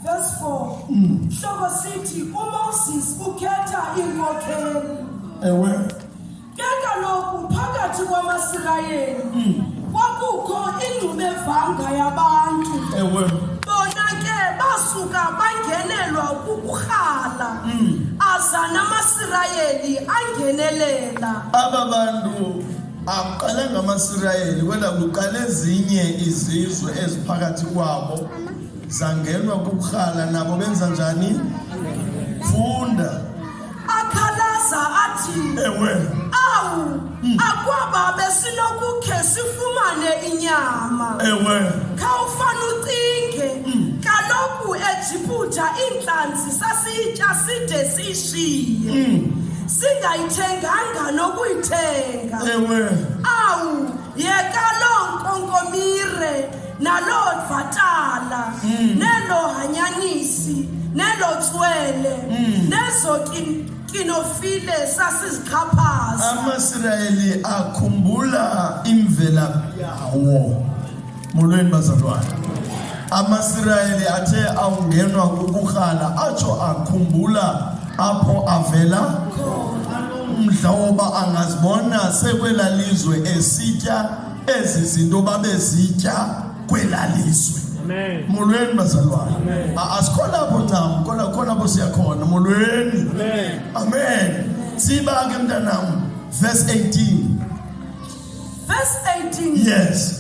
Verse 4. Mm. Hloko sithi uMoses ukhetha iinkokheli. Ewe. Ke kaloku phakathi kwamaSirayeli mm. kwakukho ingxubevanga yabantu. Ewe. Bona ke basuka bangenelwa kukurhala. Mm. Aza namaSirayeli angenelela. Aba bantu Akuqalanga amaSirayeli kodwa kuqale ezinye izizwe eziphakathi kwabo zangenwa kukurhala nabo benza njani? Funda. Akhalaza athi. Ewe. Awu, hmm. akwaba besinokukhe sifumane inyama. Ewe. Khawufana ucinge. Hmm. Kaloku eJiputa iintlanzi sasiyitya side ishiye singayithenganga nokuyithenga ewe awu yeka loo nkonkomire naloo dvatala hmm. neloo hanyanisi neloo tswele hmm. nezo kinofile sasizixhaphaza amasirayeli akhumbula imvelaphi yawo Molweni bazalwane. AmaSirayeli athe awungenwa kukurhala atsho akhumbula apho avela umdla woba angazibona sekwela lizwe esitya ezi zinto babezitya kwela lizwe molweni bazalwane asikho lapho ncam kodwa khona apho siya khona molweni amen siba ke mntanam verse 18 Verse 18. Yes.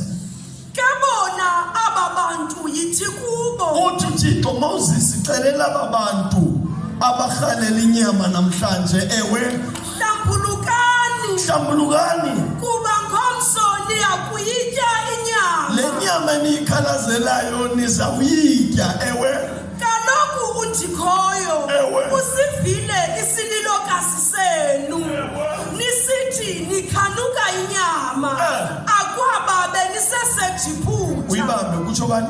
Kebona aba bantu yithi kubo. Uthi uThixo Moses celela aba bantu abarhalela inyama namhlanje ewe hlambulukani hlambulukani kuba ngomso niyakuyitya inyama le nyama eniyikhalazelayo nizawuyitya ewe Kaloku undikhoyo usivile isililokazi senu nisithi nikhanuka inyama eh. akwababe nisesejiphutha uyibambe kutsho bani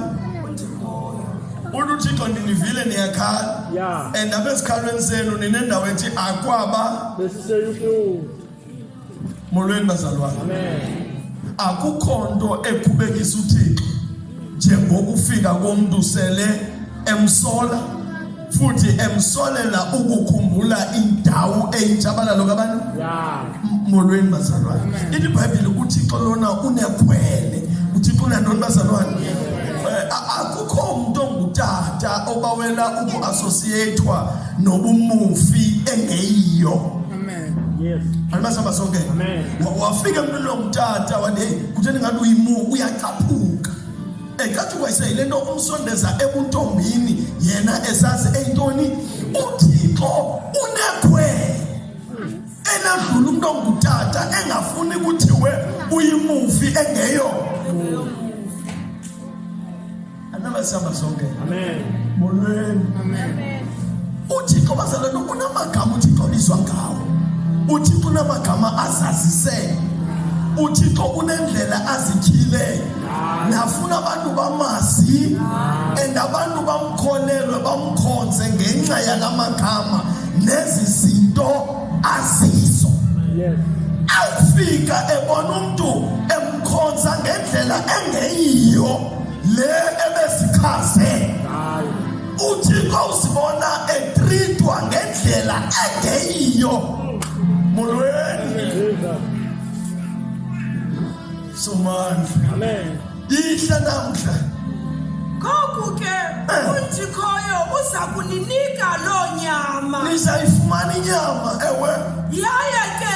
uluthixo ndinivile niyakhala and abezikhalweni senu ninendawo ethi akwaba Molweni bazalwane. Amen. Akukho nto ekhubekisa uThixo njengokufika komuntu sele emsola futhi emsolela ukukhumbula indawo eyitshabalalo kabantu. Yeah. Molweni bazalwane. Ithi iBhayibheli uThixo lona unekhwele. UThixo unantoni bazalwane? Eh, akukho umuntu ongutata obawela uku-associatwa nobumufi engeyiyo Yes. Andibasa basonke. Amen. Wafika mntu lo mtata wathi hey kutheni ngathi uyimu uyacaphuka. Ecathi kwayise yile nto umsondeza ebuntombini yena esazi eyintoni uThixo unekhwele enadlula umuntu ongutata engafuni kuthiwe uyimufi engeyo. uthixo bazalwane unamagama uthixo obizwa ngawo uthixo unamagama azazisele uthixo unendlela azityhile nafuna abantu bamazi and abantu bamkholelwe bamkhonze ngenxa yala magama nezi zinto azizo awufika ebona umntu emkhonza ngendlela engeyiyo le ebezichaze uthixo uzibona etritwa ngendlela engeyiyo molweni somandla ihle namhla ngoku ke eh. unjikhoyo uza kuninika loo nyama nizayifumana inyama ewe yaye ke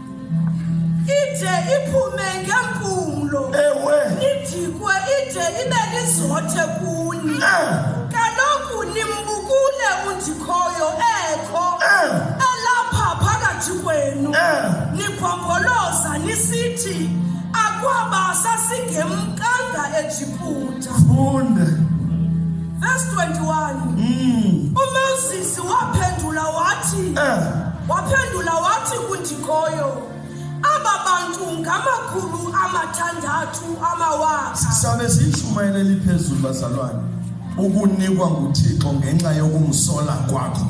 ide iphume ngempumlo ewe idikwe ide ibe lizothe kuni eh. kaloku nimbukule undikhoyo ekho eh. elapha phakathi kwenu eh. nibhomboloza nisithi akwaba sasingemkanga ejiputa funde verse 21 mm. Waphendula wathi eh. waphendula wathi kundikoyo aba bantu ngamakhulu amathandathu amawaka. Sisabe siyishumayela eliphezulu bazalwane ukunikwa nguThixo ngenxa yokumsola kwakho.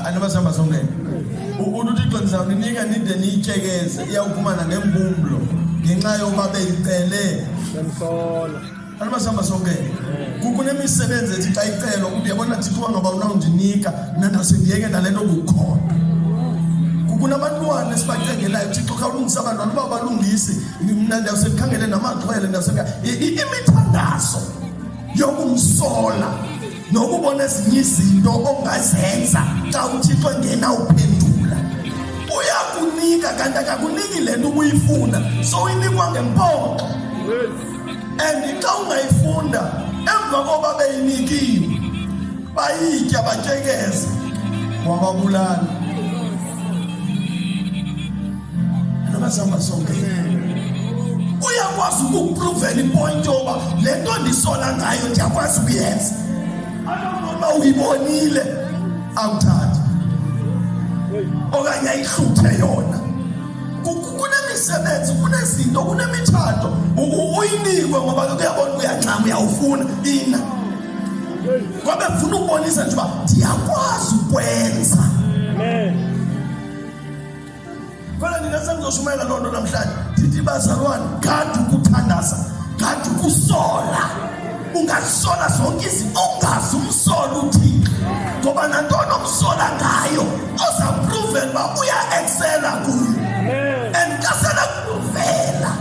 Anibasihamba songene. Ukuthi uThixo ndizawuninika nide niyityekeze iyawufumana ngempumlo ngenxa yoba beyicele. Bemsola. Anibasihamba sonke kukho nemisebenzi ethi xa icelwa ukuthi yabona thixo ngaba unawundinika mna ndasendiyeke nale nto kukhona kunabantwana esibacengelayo thixo khawulungisa abantwana uba balungisi mna ndiyawuse ndikhangele namaxhwele ndiyawuse imithandazo yokumsola nokubona ezinye izinto ongazenza xa uthixo engena uphendula uyakunika kanti akakuniki le nto ubuyifuna so inikwa ngempoxo and xa ungayifunda emva koba beyinikiwe bayitya batyekeza wababulala nabazihamba sonke uyakwazi ukupruvela ipoint yoba le nto ndisola ngayo ndiyakwazi ukuyenza anonoba uyibonile awuthathi okanye ayihluthe yona kunemisebenzi kunezinto kunemitshato uyinikwe ngoba ke kuyabona uyancama uyawufuna ina kwabe funa ukubonisa nje uba ndiyakwazi ukwenza khona nina sengizoshumayela loo nto namhlanje ndithi bazalwane kanti ukuthandaza kanti ukusola ungazisola zonke izinto ungazi umsola uthixo ngoba nantoni omsola ngayo ozapruven uba uya-eksela kuyo and kasela kuvela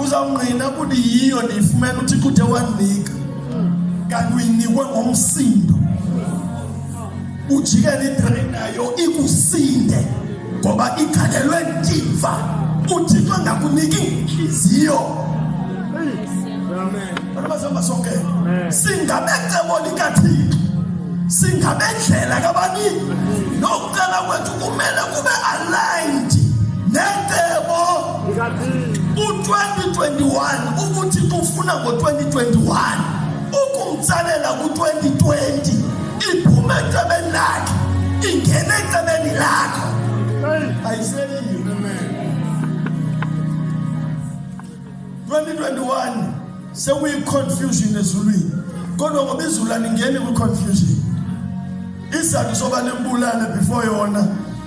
uzawungqina ukuthi yiyo ndiyifumela uthixo uthe wandinika kanti uyinikwe ngomsindo ujikele idrain nayo ikusinde ngoba ikhanelwe ndimva uthixo angakuniki intliziyo abazihamba sonke singabecebo likathixo singabendlela kabani nokucela kwethu kumele kube aligned necebo u-2021 ukuthi ufuna ngo-2021 ukumtsalela ku-2020 Iphuma ecebeni lakhe ingena ecebeni lakho. Ayiseli yini amen. 2021 sekuyi confusion ezulwini. Kodwa ngoba izulu alingeni kwi confusion. Isizathu soba nebulane before yona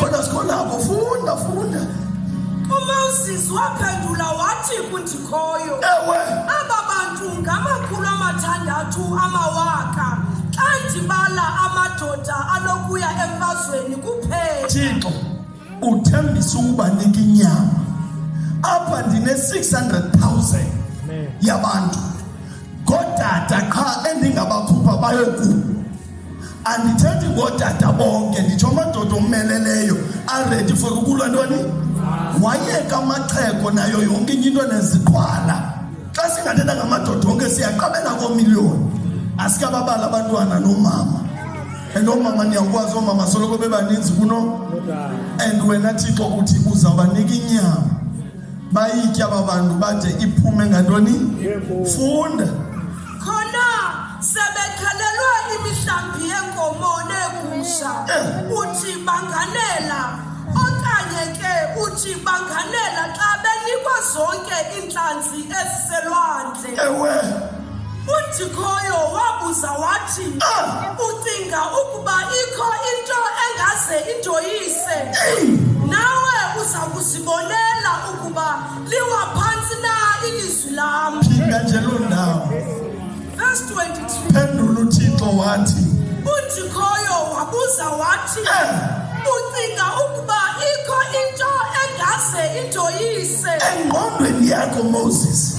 Kodwa sikhonako, funda, funda. UMoses waphendula wathi kundikhoyo, Ewe, aba bantu ngamakhulu amathandathu amawaka xa ndibala amadoda anokuya emfazweni kuphela. Thixo, uthembisa ukubanika inyama. Apha ndine-600,000 yabantu. Ngootata qha endingabakhupha bayoku andithethi ngootata bonke nditsho amadoda ommeleleyo aredi for ukulwa ntoni wayeka amaxheko nayo yonke inye into neziqhwala xa singathetha ngamadoda onke siyaqabela koomiliyoni asikababala abantwana noomama and oomama niyakwazi oomama soloko bebaninzi kuno and wena thixo uthi uzawubanika inyama bayitya aba bantu bade iphume ngantoni funda khona sebekhalelwa imihlambi yenkomo neegusha eh. uthi banganela okanye ke uthi banganela xa benikwa zonke iintlanzi eziselwandle ewe udikhoyo wabuza wathi ah. ucinga ukuba ikho into engaze indoyise nawe uza kuzi Bonela ukuba liwa phantsi na ilizwi lam. Phinda nje loo ndawo. Verse 23. Phendula uThixo wathi. UNdikhoyo wabuza wathi. Eh. Ucinga ukuba ikho into engase indoyise. Engqondweni yakho Moses.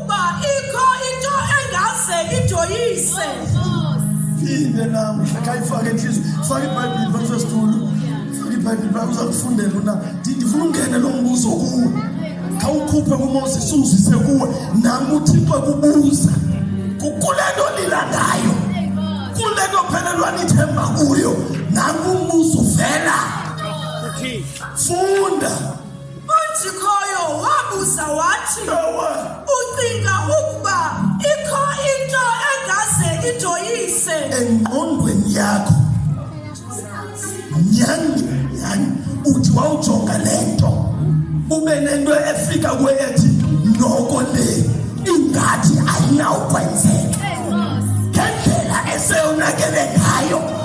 Uba ikho into engaze ijoyise. Phinde namhla khayifake inhliziyo. Faka iBhayibheli phansi kwesitulo. Faka iBhayibheli phansi uzakufundela una. Ndifuna ungene lo mbuzo kuwe. Khawukhuphe kuMoses uzise kuwe. Nam uThixo kubuza. Kukule nto nilandayo. Kule nto phelelwa nithemba kuyo. Nam umbuzo uvela. Funda. Ojikhoyo wabuza wathi, Ucinga ukuba ikho into engaze ijoyise? Engqondweni yakho. Nyani, nyani, uthi wawujonga le nto. Ube nento efika kuwe ethi, noko le ingathi ayinawukwenzeka. Ngendlela eseyonakele ngayo.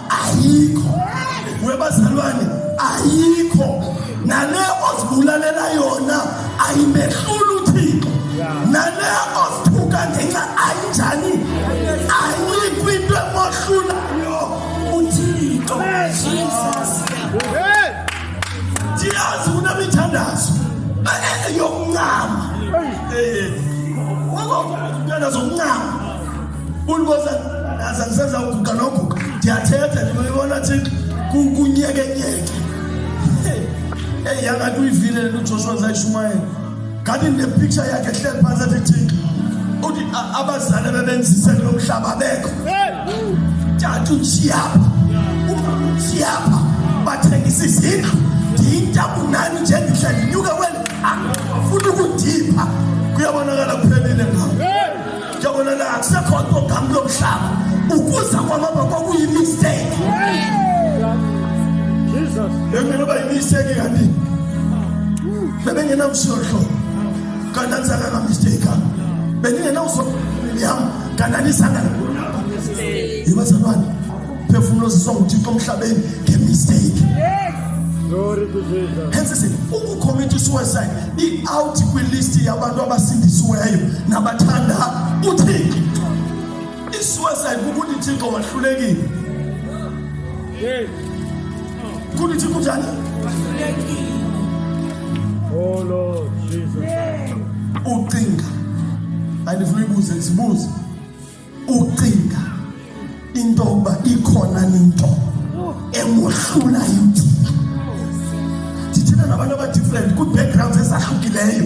ayikho we bazalwane ayikho nale ozibulalela yona ayimehluli uthixo nale ozithuka ngenxa ayinjani ayikho into emohlulayo uthixo ndiyazi kunemithandazo yokuncama umntana zokuncama uliboza aza ndisenza uguga noguga ndiyathetha ndimayibona thi kunyekenyeke eyi yangathi uyivile le nto ujoshua zayishumayela ngathi ndinepiksha yakhe hleli phantsi athi thixo uthi abazali abebenzise kulo mhlaba bekho tata utshiyapha umama utshiyapha bathengisa izindlu ndiyintabu nani njendihle ndinyuke kweli angafuni ukundipha kuyabonakala kuphelile ngawo Njengoba la akusekho ogama lomhlaba ukuza kwababa kwakuyi mistake. Jesus. Bengenoba yimistake kanti. Bebengenamshohlo. Kanti anzaka ka mistake. Beningena uso yam kanti anisanga. Yibazalwane. umphefumulo oziswa nguthixo emhlabeni ngemisteyiki hensisi ukukhomita isuicide iawuthi kwilisti yabantu abasindisiweyo nabathanda uthixo isuicide kukuthi thixo wahlulekile kuthi thixo njani Oh Lord Jesus. Ucinga. Andifuna ibuze, sibuze. ucinga into yokuba ikhona into emohlulayo uthixo ndithetha nabantu abadifferent kwii-backgrounds ezahlukileyo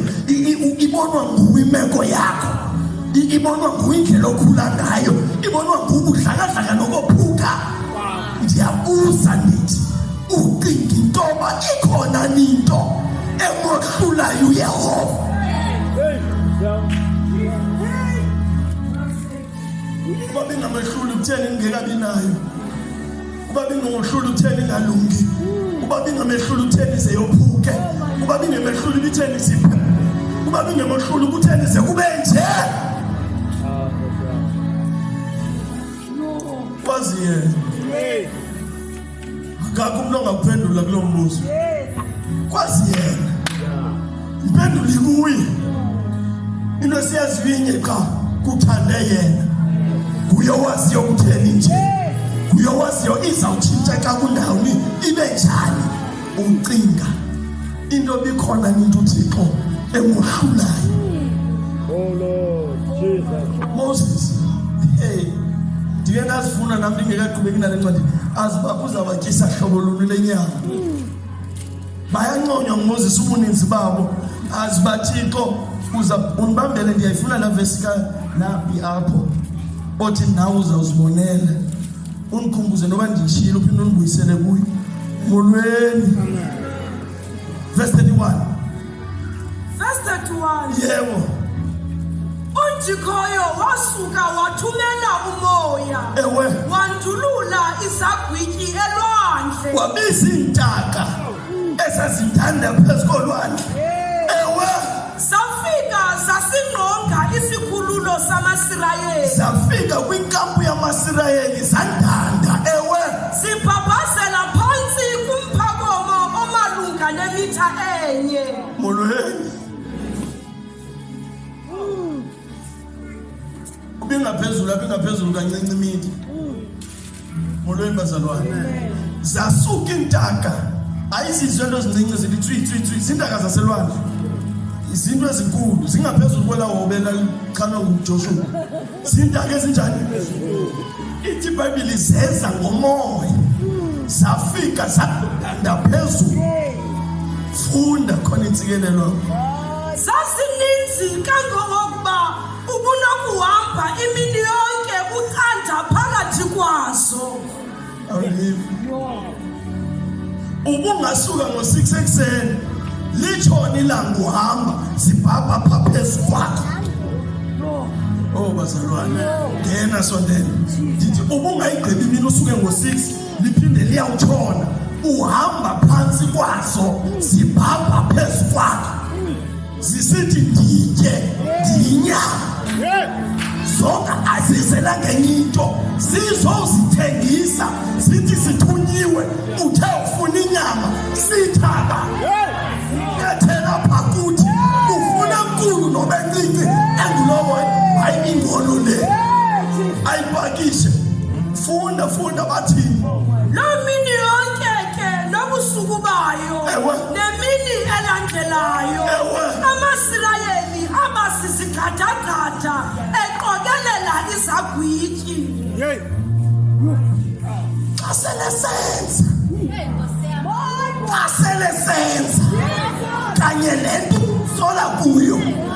ibonwa nguwe imeko yakho ibonwa nguwe indlela okhula ngayo ibonwa nguwe ubudlakadlaka nokophuka ndiyabuza ndithi ucinga into yoba ikhona ninto emohlulayo uyehova uba bengamehluli kutheni ngingekabi nayo uba bengohluli kutheni ngalungi uba bengamehluli kutheni ze yophuke uba bengemehluli kutheni ziphe uba bengemehluli kutheni ze kube nje Wazi yena. Akakho umuntu ongaphendula kulo mbuzo. Kwazi yena. Impendulo ikuye. Into esiyaziyo inye qha kuthande yena. Kuye owaziyo ukutheni nje. Kuye owaziyo izawutshintsha xa kundawoni ibe njani umcinga. into bikhona into uthixo emohlulayo oh, moses hey ndike ndazifuna nam ndingekaqhubeki nale ncwadi azi uba kuzabatyisa hlobo luni le nyama bayanconywa ngumoses ubuninzi babo azi bathixo uza undibambele ndiyayifuna laa vesi ka naphi apho othi nawe uzawuzibonela undikhumbuze noba ndishilo uphinde undibuyisele kuyo molweni verse 31 verse 31 yebo unjikhoyo wasuka wathumela umoya ewe wandulula izagwityi elwandle wabiza iintaka esazithanda phezu kolwandle Zafika zasingqonga isikhululo samaSirayeli. Zafika kwinkampu yamaSirayeli zandanda ewe. Zibhabhazela phantsi kumphakomo omalunga nemitha enye. Molweni. Ubingaphezulu abingaphezulu kancinci imini. Molweni bazalwane. Zasuka intaka. Ayizizwe into ezincinci zithi tswi tswi tswi zintaka zaselwandle. Izinto ezinkulu zingaphezulu kwelawo belalixhanwe nguJoshua. Zintaka ezinjani? ithi ibhayibhile zeza ngomoya zafika zakudanda phezulu funda khona intsikelelo zasininzi kangangokuba ubunokuhamba imini yonke ucanda phakathi kwazo ubungasuka ngo-six ekuseni litshoni ilanga uhamba zibhabha pha phezu kwakho o oh, bazalwane ngena sondela ndithi ubungayigqibi imini usuke ngo-six liphinde liyawutshona uhamba phantsi kwaso zibhabha phezu kwakho zisithi nditye ndinya zonke azizelanga enye into zizozithengisa zithi sithunyiwe uthe ufuna inyama sithaba ethela pha kuthi ufuna nkulu noba encinci engulowo hayi ingolo le ayipakishe funda funda bathini loo mini yonke ke nobusuku bayo Ndelayo amaSirayeli aba sisigqadagqada eqokelela izagwityi. Yey. Xa sele senza. Xa sele senza. Kanye le nto sola kuyo.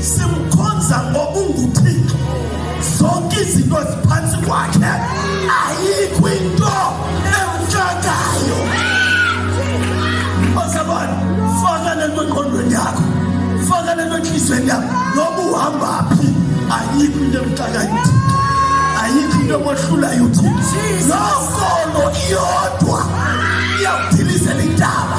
simkhonza ngoba unguthixo zonke izinto eziphantsi kwakhe ayikho into emtshakayo osabona faka le nto engqondweni yakho faka le nto entliziyweni yakho noba uhamba phi ayikho into emtshakayo uthixo ayikho into emohlulayo uthixo loo nkolo iyodwa iyawudilizela intaba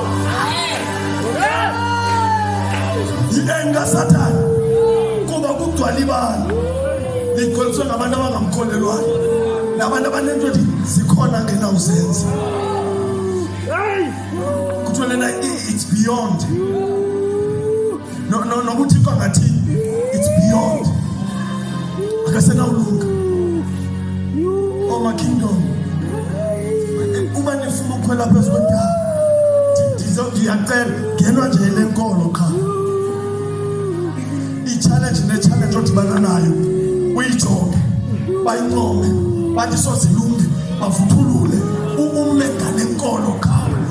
Yinenga Satan kuba kugcwala ibala ligcwaliswe ngabantu abangamkholelwayo nabantu abanento nje zikhona ngena uzenza kuthiwa lena it's beyond no no nokuthi kwangathi it's beyond akasenawulunga oma kingdom uba nifuna ukukhwela phezu kwentaba ndiyacela ngenwa nje le nkolo qha ichallenge nechallenge odibana nayo uyijonge bayincome bathi sozilunge bavuthulule ume ngale nkolo qha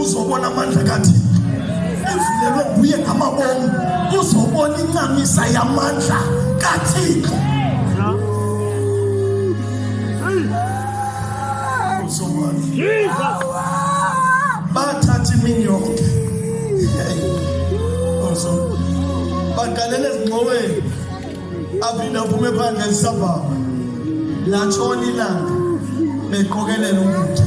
uzobona amandla kathina evulelwe nguye ngamabomu uzobona incamisa yamandla kathixo bathatha imini yonke bagalela ezingxoweni aphinde aphume phandle ezisabhaba latshona ilanga beqokelela ukutya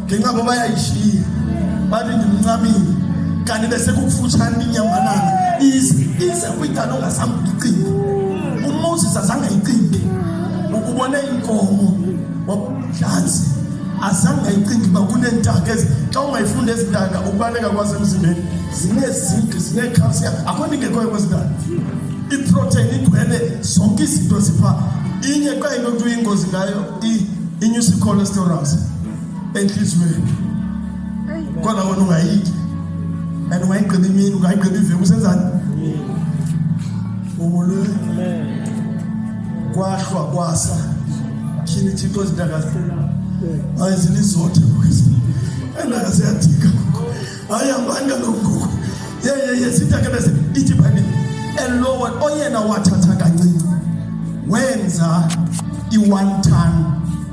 ngenxa ngoba yayishiye bathi ndimncamile kanti besekukufutshane inyambanana ize ize kwigalo ongazange uyicinge umoses azange ayicinge ubone inkomo wabuhlanzi azange ayicinge uba kuneentaka xa ungayifunda ezi ntaka ukubaleka kwasemzimbeni zinezinki zinecalcium akho nto ingekhoyo kwezi ntaka iprotein igcwele zonke izinto zipha inye xa into kuthiwa ingozi ngayo inyusa icholesterol enhliziyweni kodwa wena ungayiki and ungayigqiba imini ungayigqiba iveki usenzani umulwe kwahlwa kwasa tyhini thixo zintakahlula hayi zilizothe kwezi endaka ziyadika hayi hambani kaloku ngoku yeyeye sitakebeze ithi bhayibile elowa oyena wathatha kancinci wenza i-one time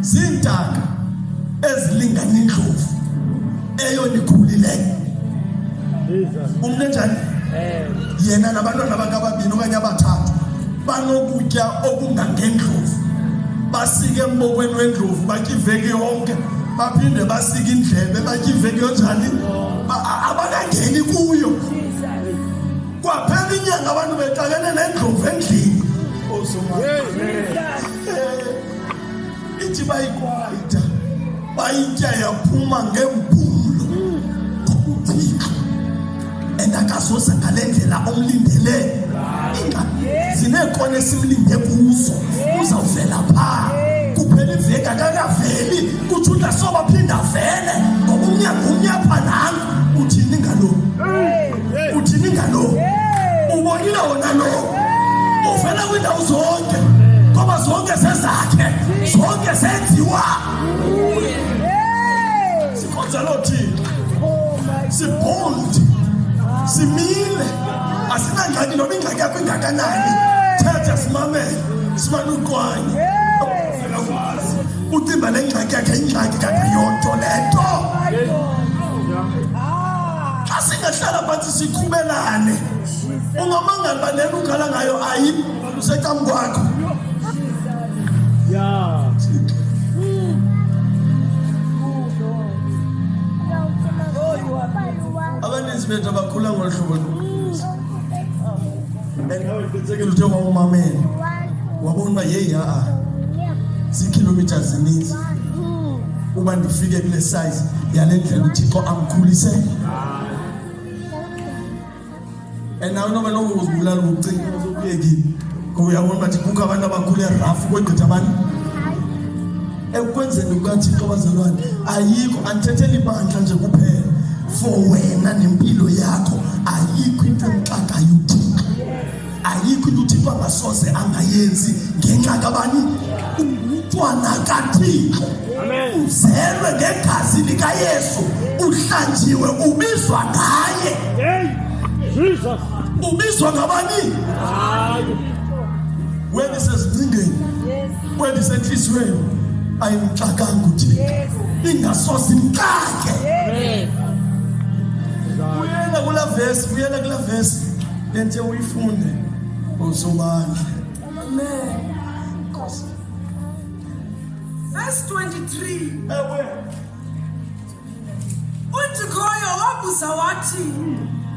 ziintaka ezilingana indlovu eyona ikhulileyo umntu enjani yena nabantwana bakababini okanye abathathu banokutya okungangendlovu basike embokweni wendlovu batya iveki yonke baphinde basike indlebe batya iveki yonjani abakangeni kuyo kwaphela inyanga abantu bexakene nendlovu endlini ithi bayikwayita bayitya yaphuma ngempulo kuthixo and akazoza ngale ndlela omlindele zineekona esimlinde kuzo uzawuvela phaa kuphela iveki akakaveli kutsho uthi asobaphinde avele ngoba umnyango umnyapha nangu uthini ngaloo uthini ngalo ubonile wona lo uvela kwiindawo zonke ngoba zonke sezakhe zonke senziwa sikhonza loo thina sibold simile asinangxaki noba ingxaki yakho ingakanani thetha simamele simane uqwanye uvela wazi ucimba le ngxaki yakhe ingxaki kangayonto le nto xa singahlala phantsi sikhubelane ungamangali uba lena ukhala ngayo ayi lusecam kwakho abaninzi bethu abakhula ngolu hlobo andikawuqinisekile uthe wawumamele wabona uba yeyi ha-a ziikhilomitha zininzi uba ndifike kule size yale ndlela uthixo amkhulise and nawe noba noba uzibulala ubucinga uzokuyekile ngoba uyabona uba ndikukho abantu abakhule rafu kwegqitha abantu ekwenzeni kukathixo bazalwane ayikho andithetheli ibandla nje kuphela for wena nempilo yakho ayikho into emxakayo uthixo ayikho into uthixo angasoze angayenzi ngenxa kabani ungumntwana kathixo uzelwe ngegazi likayesu uhlanjiwe ubizwa ngaye ubizwa ngabani wena isezingcingeni wena isentliziyweni ayimxakanga uthixo ingasoze imxake uyena kula vesi uyena kula vesi Benze uyifunde ngosobandla. Amen. Nkosi. Verse 23. Ewe. UDikhoyo wabuza wathi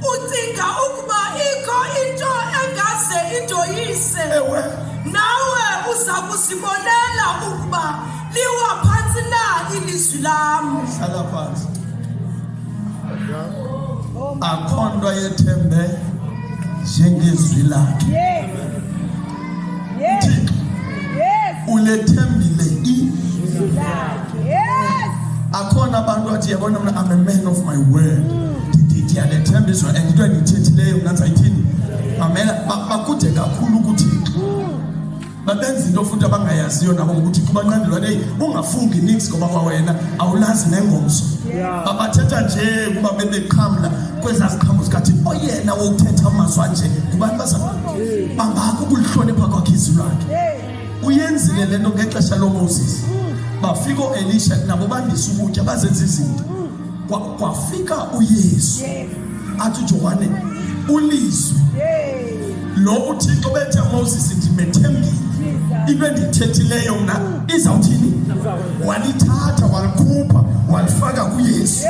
ucinga ukuba ikho into engaze indoyise. Ewe. Nawe uza kuzibonela ukuba liwa phantsi na ilizwi lam. Hlala phantsi. akho nto ayethembe njengezwi lakhe thixo ulethembile izwi lakhe akhona abantu athi yabona mna am a man of my word ndiyalethemba izwi and into endiyithethileyo mna ndizayithini mamela bakude kakhulu kuthixo babenza into futhi abangayaziyo nabo ngokuthi kubanqandelwa leyi ungafungi nix ngoba kwawena awulazi nengomso babathetha nje kuba bebeqhamla kwezaa ziqhamo zikathi oyena wokuthetha amazwi anje ngubani bazama bangako ukulihlonipha kwakhe izwi lakhe uyenzile le nto ngexesha lomoses bafika ooelisha nabo bandisa ukutya bazenza izinto kwa, kwa Afrika uYesu yes. athi uJohane ulizwe yes. lo uThixo bethe Moses ndimethembile into endithethileyo mna izawuthini walithatha walikhupha walifaka kuYesu yes.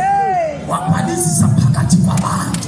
wabhalisisa phakathi kwabantu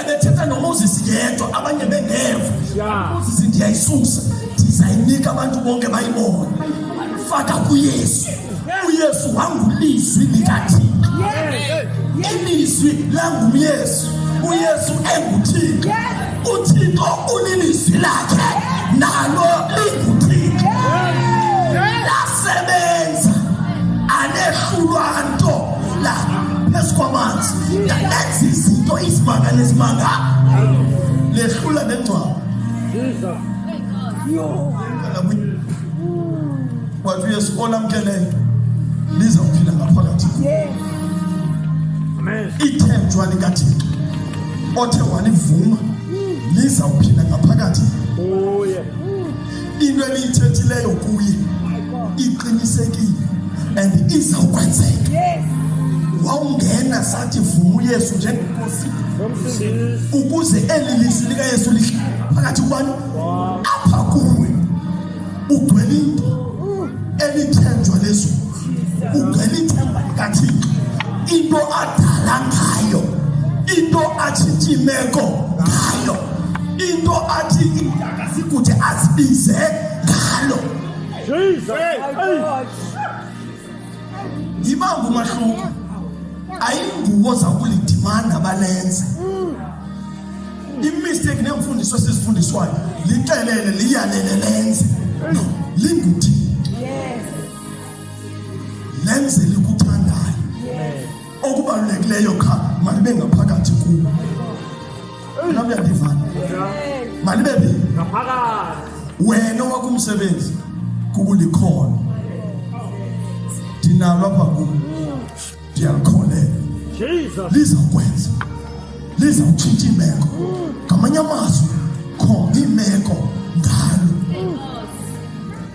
ebethetha nomoses yedwa abanye bengeva moses ndiyayisusa ndizayinika abantu bonke bayibone faka kuyesu uyesu wangulizwi likathixo ilizwi langumyesu uyesu enguthixo uthixo ulilizwi lakhe nalo linguthixo sebenza anehlulwa nto la phezu kwamanzi enza izinto izimanga nezimanga lehlula nengcwaba wathi uyesu olamkeleyo lizawuphila ngaphakathi ithenjwa likathixo othe walivuma lizawuphila ngaphakathi into ebiyithethileyo kuye iqinisekile and izawukwenzeka wawungena sathi vumu yesu njengenkosi ukuze eli lizwi likayesu lihle phakathi kwani apha kuwe ugcwele into elithenjwa lezulu ugcwele ithemba likathixo into adala ngayo into atshintsha imeko ngayo into athi asikuthi azibize ngalo yibangu umahluko ayinguwo zakulidimanda balenze imistake neemfundiso esizifundiswayo lixelele liyalele lenze no linguthini lenze likuthanda okubalulekileyo qha malibe ngaphakathi kuwo nam uyandivana malibe phi wena wakho umsebenzi kukulikhona ndinalo apha kum ndiyalikholela lizawukwenza lizawutshintsha imeko ngamanye amazwi khona imeko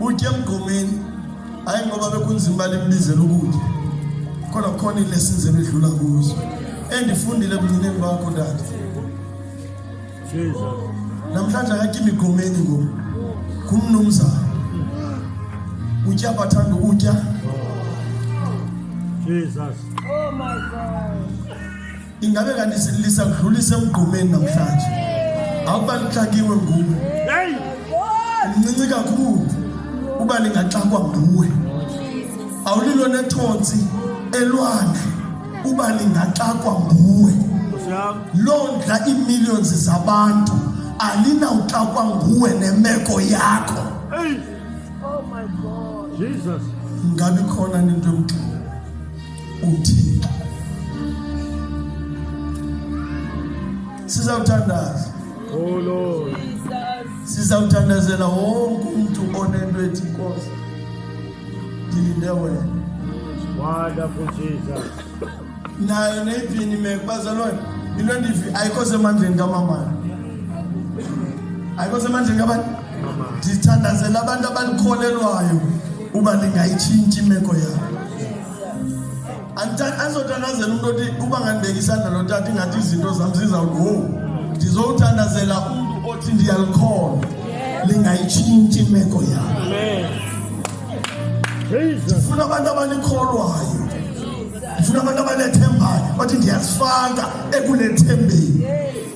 utye emgomeni hayi ngoba bekunzima uba limbizela ukutya kodwa kukhona iilessons ebedlula kuzo endifundile ebuncineni bakho tata namhlanje akatya imigomeni ngoku ngumnumzana utya bathanda ukutya Jesus. Oh my God. ingabe kanti lisadlulise emgqumeni namhlanje awuba lixakiwe nguwe mncinci kakhulu uba lingaxakwa nguwe awulilo nethonsi elwandle uba lingaxakwa nguwe loo ndla iimillions zabantu alinawuxakwa nguwe nemeko yakho oh ngabi khona nento yomgxini uthixo sizawuthandaza oh lord sizawuthandazela wonke umntu onento ethi nkosi ndilinde wena wonderful jesus nayo neyipini imeko bazalwane into endivi ayikho semandleni kamamana ayikho semandleni kabani ndithandazela abantu abalikholelwayo uba lingayitshintshi imeko yabo andizothandazela umntu othi uba ngandibeka isandla lotata ingathi izinto zam zizawuthi wo ndizowuthandazela umntu othi ndiyalikholwa lingayitshintshi imeko yabo ndifuna abantu abanikholwayo ndifuna abantu abanethembayo bathi ndiyazifaka ekulethembeni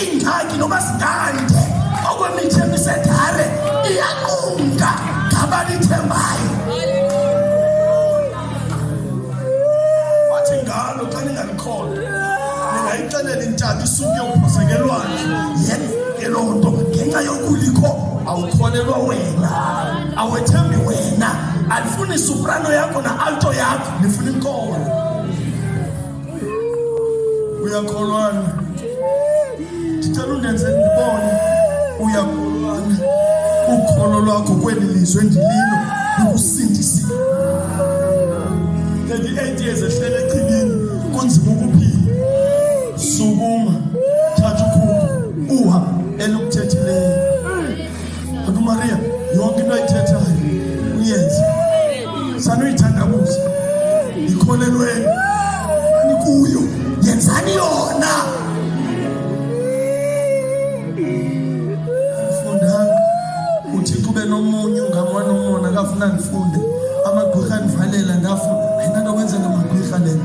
iingxaki noba zingande okwemithi emisedare iyanqumka ngabalithembayo wathi ngalo xa ningalikholwa ningayixelela intaba isuke uphosekelwane yenzeke loo nto ngenxa yokulikho awukholelwa wena awethembi wena alifuni soprano yakho na alto yakho nifuna inkolo uyakholwana ndicela undenze ndibone uyakholwana ukholo lwakho kweli lizwe ndililo likusindisile 38 years ehlele echibini kunzima ukuphila sukuma thatha ukhulu uha elukuthethileyo Mama Maria yonke into ayithethayo uyenze sanuyithandabuza ikholelweni anikuyo yenzani yona fundanga uthixo ube nomunye ungama nomona akafuna ndifunde amagqwirha ndivalela ndafuna ayinanto kwenza ngamagqwirha lena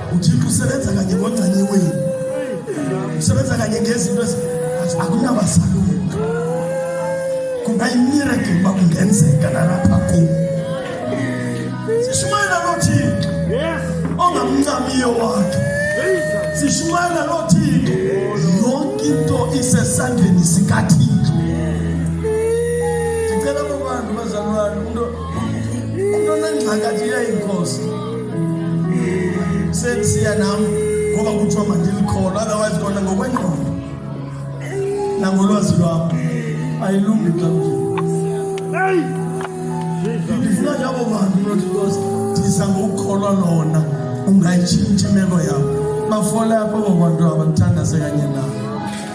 uthixo usebenza kanye ngongcanye wenu usebenza kanye ngezinto akunabasalunga kungayimirakile uba kungenzeka nalapha kum sishumayela loo thixo ongamncamiyo wakhe sishumayela loo thixo yonke into isesandleni sikathixo Into nengxakathi yayinkosi. Sendisiya nam ngoba kuthiwa mandilikholwa otherwise kona ngokwengqondo nangolwazi lwam ayilungi xa ndifuna njabo bantu not because ndiza ngokukholwa lona ungayitshintsha imeko yam bafole apho abo bantu abandithandaze kanye nabo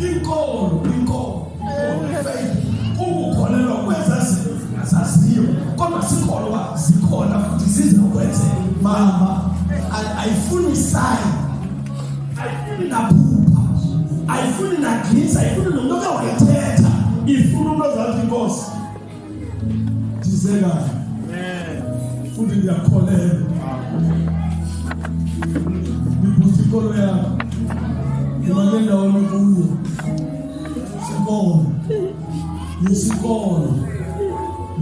inkolo inkolo ukukholelwa kweza zinto zingazaziyo kodwa sikholwa zikhona futhi zizokwenzeka mama ayifuni sayi ayifuni naphupha ayifuni nagisa ayifuni nomntu oke wayithetha ifuna umntu ozazi inkosi futhi ndiyakholelwa ndibusa ikolo yakho ndimane ndawoni kuyo sikolo nesikolo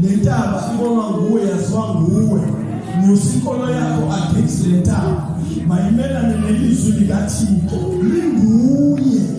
le ntaba ibonwa nguwe yaziwa nguwe nyusa inkolo yakho against le ntaba mayimelane nelizwi likathixo linguye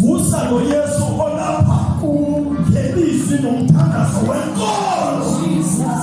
vusa lo Yesu olapha ungenisi nomthandazo wenkolo Jesus